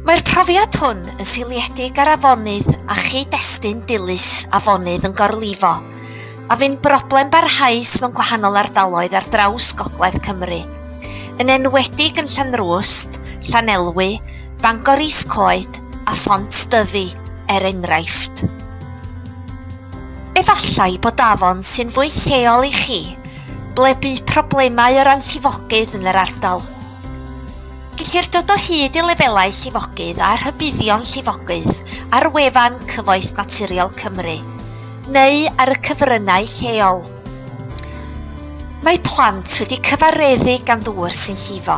Mae'r profiad hwn yn seiliedig ar afonydd a chyd-destun dilys afonydd yn gorlifo, a fu'n broblem barhaus mewn gwahanol ardaloedd ar draws gogledd Cymru, yn enwedig yn Llanrwst, Llanelwy, Bangor Is Coed a Phont Dyfi, er enghraifft. Efallai bod afon sy'n fwy lleol i chi, ble bu problemau o ran llifogydd yn yr ardal. Gellir dod o hyd i lefelau llifogydd a rhybuddion llifogydd ar wefan Cyfoeth Naturiol Cymru neu ar y cyfryngau lleol. Mae plant wedi cyfareddu gan ddŵr sy'n llifo,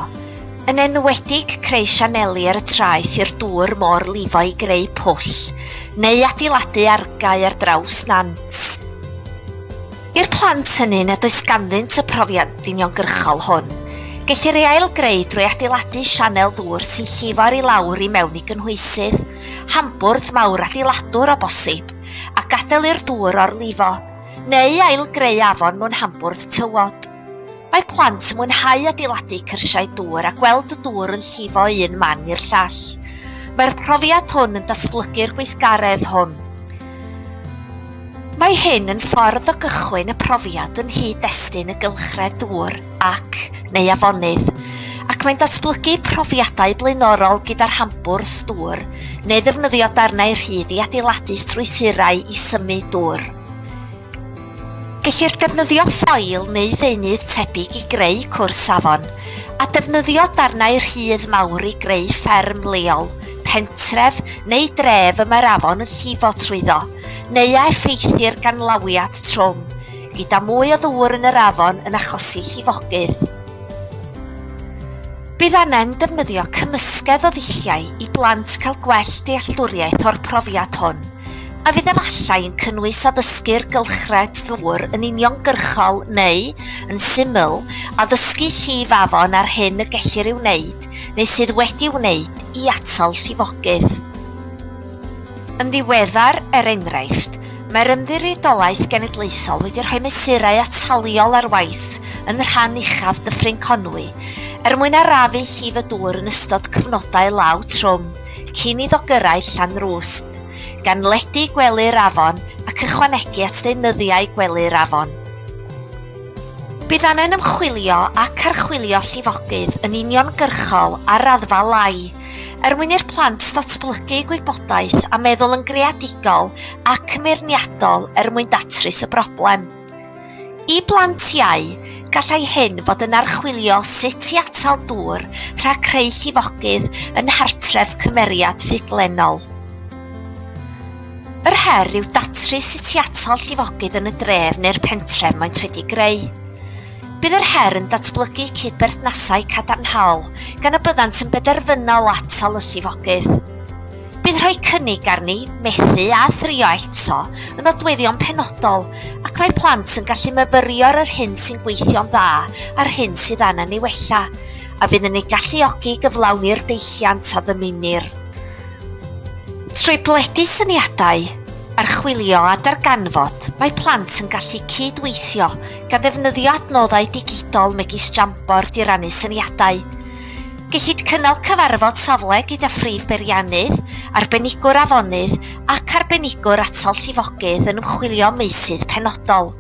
yn enwedig creu sianeli ar y traeth i'r dŵr môr lifo i greu pwll, neu adeiladu argae ar draws nant. I'r plant hynny nad oes ganddynt y profiant uniongyrchol hwn, gellir ei ailgreu drwy adeiladu sianel ddŵr sy'n llifo'r i lawr i mewn i gynhwysydd, hambwrdd mawr adeiladwr o bosib, a gadael i'r dŵr orlifo, neu ailgreu afon mewn hambwrdd tywod. Mae plant yn mwynhau adeiladu cyrsiau dŵr a gweld y dŵr yn llifo un man i'r llall. Mae'r profiad hwn yn datblygu'r gweithgaredd hwn. Mae hyn yn ffordd o gychwyn y profiad yn hyd destun y gylchred dŵr ac, neu afonydd, ac mae'n datblygu profiadau blaenorol gyda'r hambwrs dŵr, neu ddefnyddio darnau rhydd i adeiladu strwythurau i symud dŵr. Gellir defnyddio ffoil neu ddeunydd tebyg i greu cwrs safon, a defnyddio darnau rhydd mawr i greu fferm leol, pentref neu dref y mae'r afon yn llifo trwyddo, neu a effeithir gan lawiad trwm, gyda mwy o ddŵr yn yr afon yn achosi llifogydd. Bydd angen defnyddio cymysgedd o ddulliau i blant cael gwell dealltwriaeth o'r profiad hwn. a fydd efallai yn cynnwys addysgu'r gylchred ddŵr yn uniongyrchol neu, yn syml, addysgu llif afon a'r hyn y gellir ei wneud neu sydd wedi wneud i atal llifogydd. Yn ddiweddar, er enghraifft, mae'r Ymddiriedolaeth Genedlaethol wedi rhoi mesurau ataliol ar waith yn rhan uchaf Dyffryn Conwy er mwyn arafu llif y dŵr yn ystod cyfnodau law trwm, Cyn iddo gyrraedd Llanrwst, gan ledu gwely'r afon ac ychwanegu at ddeunyddiau gwely'r afon. Bydd angen ymchwilio ac archwilio llifogydd yn uniongyrchol ar raddfa lai, er mwyn i'r plant ddatblygu gwybodaeth a meddwl yn greadigol ac yn feirniadol er mwyn datrys y broblem. I blant iau, gallai hyn fod yn archwilio sut i atal dŵr rhag creu llifogydd yn nghartref cymeriad ffuglennol. Yr her yw datrys sut i atal llifogydd yn y dref neu'r pentref maent wedi greu. Bydd yr her yn datblygu cydberthnasau cadarnhaol gan y byddant yn benderfynol atal y llifogydd. Bydd rhoi cynnig arni methu a thrio eto yn nodweddion penodol ac mae plant yn gallu myfyrio ar yr hyn sy'n gweithio'n dda a'r hyn sydd angen ei wella a fydd yn ei galluogi i gyflawni'r deilliant a ddymunir. Trwy blethu syniadau, archwilio a darganfod, mae plant yn gallu cyd-weithio gan ddefnyddio adnoddau digidol megis Jamboard i rannu syniadau, Gellid cynnal cyfarfod safle gyda Phrif Beiriannydd, Arbenigwr Afonydd ac Arbenigwr Atal Llifogydd yn ymchwilio am meysydd penodol.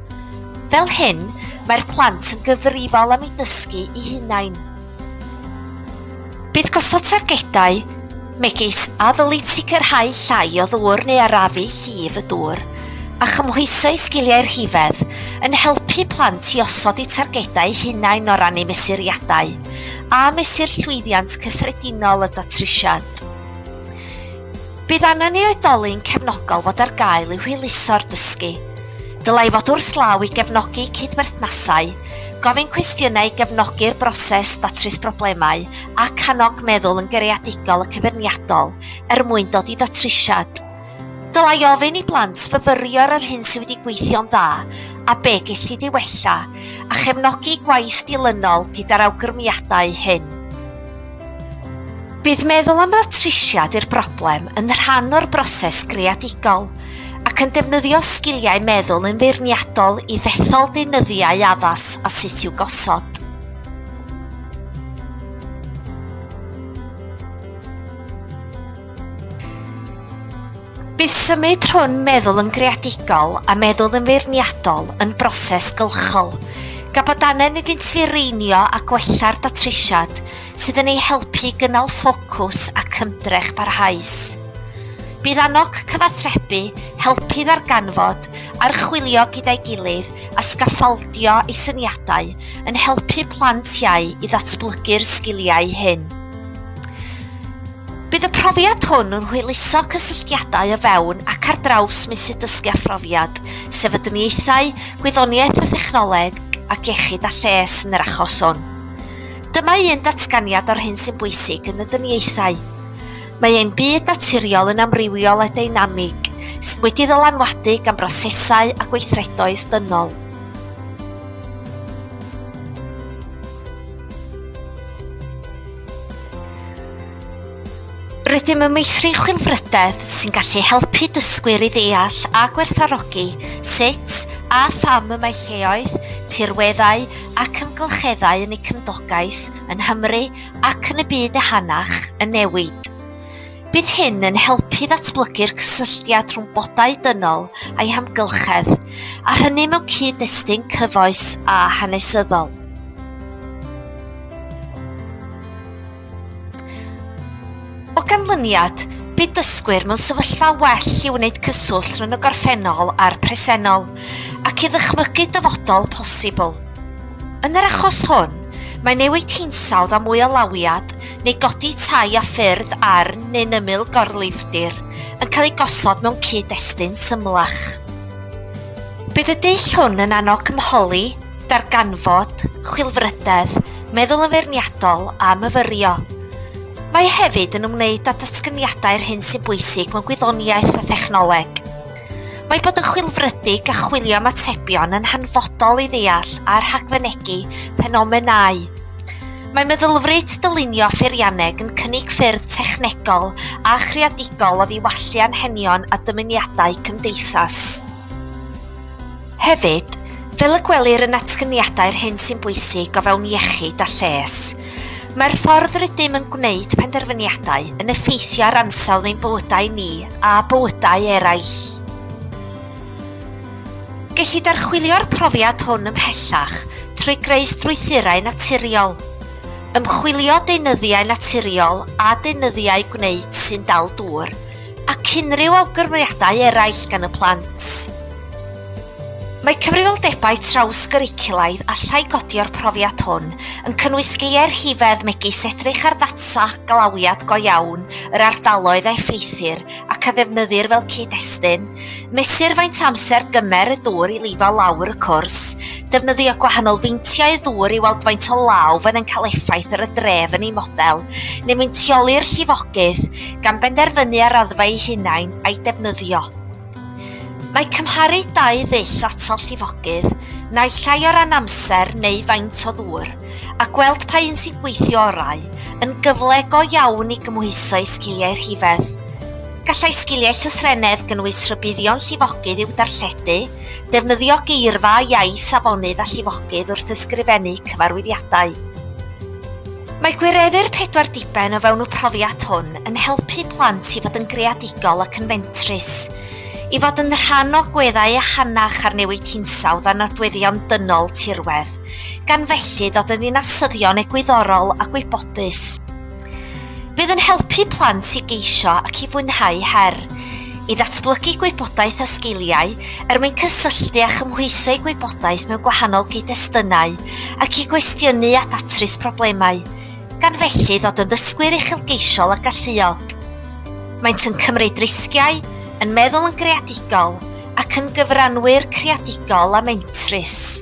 Fel hyn, mae'r plant yn gyfrifol am eu dysgu eu hunain. Bydd gosod targedau, megis a ddylid sicrhau llai o ddŵr neu arafu llif y dŵr, a chymhwyso i sgiliau rhifedd, yn helpu plant i osod eu targedau hunain o ran eu mesuriadau. a mesur llwyddiant cyffredinol y datrysiad. Bydd angen i oedolyn cefnogol fod ar gael i hwyluso'r dysgu. Dylai fod wrth law i gefnogi cydberthnasau, gofyn cwestiynau i gefnogi'r broses datrys broblemau ac annog meddwl yn gereadigol y cyfyrniadol er mwyn dod i ddatrysiad. Dylai ofyn i blant fyfyrio ar yr hyn sydd wedi gweithio'n dda a be gellid ei wella, a chefnogi gwaith dilynol gyda'r awgrymiadau hyn. Bydd meddwl am ddatrysiad i'r broblem yn rhan o'r broses greadigol ac yn defnyddio sgiliau meddwl yn feirniadol i ddethol deunyddiau addas a sut i'w gosod. Bydd symud rhwng meddwl yn greadigol a meddwl yn feirniadol yn broses gylchol, gan bod angen iddynt fireinio a gwella'r datrisiad sydd yn eu helpu i gynnal ffocws ac ymdrech barhaus. Bydd annog cyfathrebu, helpu ddarganfod, archwilio gyda'i gilydd a sgaffaldio ei syniadau yn helpu plant iau i ddatblygu'r sgiliau hyn. Bydd y profiad hwn yn hwyluso cysylltiadau o fewn ac ar draws meysydd dysgu a phrofiad, sefydliaethau, gwyddoniaeth a thechnoleg, ac iechyd a lles yn yr achos hwn. Dyma un datganiad o'r hyn sy'n bwysig yn y dyniaethau. Mae ein byd naturiol yn amrywiol a deinamig, sydd wedi ddylanwadu gan brosesau a gweithredoedd dynol. Rydym yn meithrin chwilfrydedd sy'n gallu helpu dysgwyr i ddeall a gwerthfarogi sut a pham y mae lleoedd, tirweddau ac amgylcheddau yn eu cymdogaeth, yng Nghymru ac yn y byd ehangach, yn newid. Bydd hyn yn helpu ddatblygu'r cysylltiad rhwng bodau dynol a'i hamgylchedd, a hynny mewn cyd-destun cyfoes a hanesyddol. O ganlyniad, bydd dysgwyr mewn sefyllfa well i wneud cyswllt rhwng y gorffennol a'r presennol ac i ddychmygu dyfodol posibl. Yn yr achos hwn, Mae newid hinsawdd a mwy o lawiad neu godi tai a ffyrdd ar neu'n ymyl gorlifdir yn cael ei gosod mewn cyd-destun symlach. Bydd y dull hwn yn annog cymholi, darganfod, chwilfrydedd, meddwl yn feirniadol a myfyrio. Mae hefyd yn ymwneud â datganiadau'r hyn sy'n bwysig mewn gwyddoniaeth a thechnoleg. Mae bod yn chwilfrydig a chwilio am atebion yn hanfodol i ddeall a rhagfynegi ffenomenau Mae meddylfryd dylunio pheirianneg yn cynnig ffyrdd technegol a chreadigol o ddiwallu anghenion a dymuniadau cymdeithas. Hefyd, fel y gwelir yn atgyniadau'r hyn sy'n bwysig o fewn iechyd a lles, mae'r ffordd rydym yn gwneud penderfyniadau yn effeithio ar ansawdd ein bywydau ni a bywydau eraill. Gellid archwilio'r profiad hwn ymhellach trwy greu strwythurau naturiol, ymchwilio deunyddiau naturiol a deunyddiau gwneud sy'n dal dŵr, ac unrhyw awgrymiadau eraill gan y plant. Mae cyfrifoldebau traws-gyriculaidd allai godi o'r profiad hwn yn cynnwys sgiliau rhifedd megis edrych ar ddata glawiad go iawn yr ardaloedd a effeithir ac a ddefnyddir fel cyd-destun, Mesur faint amser gymer y dŵr i lifo lawr y cwrs, defnyddio gwahanol feintiau ddŵr i weld faint o law fydd yn cael effaith ar y dref yn ei model, neu meintioli'r llifogydd, gan benderfynu ar raddfa ei hunain a'i defnyddio. Mae cymharu dau ddull atal llifogydd, naill ai o ran amser neu faint o ddŵr, a gweld pa un sy'n gweithio orau, yn gyfle go iawn i gymhwyso i sgiliau rhifedd. Gallai sgiliau llythrennedd gynnwys rhybuddion llifogydd i'w darlledu, defnyddio geirfa a iaith afonydd a llifogydd wrth ysgrifennu cyfarwyddiadau. Mae gwireddu'r pedwar diben o fewn y profiad hwn yn helpu plant i fod yn greadigol ac yn fentrus, i fod yn rhan o gweddau ehangach ar newid hinsawdd a nodweddion dynol tirwedd, gan felly ddod yn ddinasyddion egwyddorol a gwybodus. Bydd yn helpu plant i geisio ac i fwynhau her, i ddatblygu gwybodaeth a sgiliau er mwyn cysylltu a chymhwyso'u gwybodaeth mewn gwahanol gyd-destunau ac i gwestiynu a datrys problemau, gan felly ddod yn ddysgwyr uchelgeisiol a galluog. Maent yn cymryd risgiau, yn meddwl yn greadigol ac yn gyfranwyr creadigol a mentrus.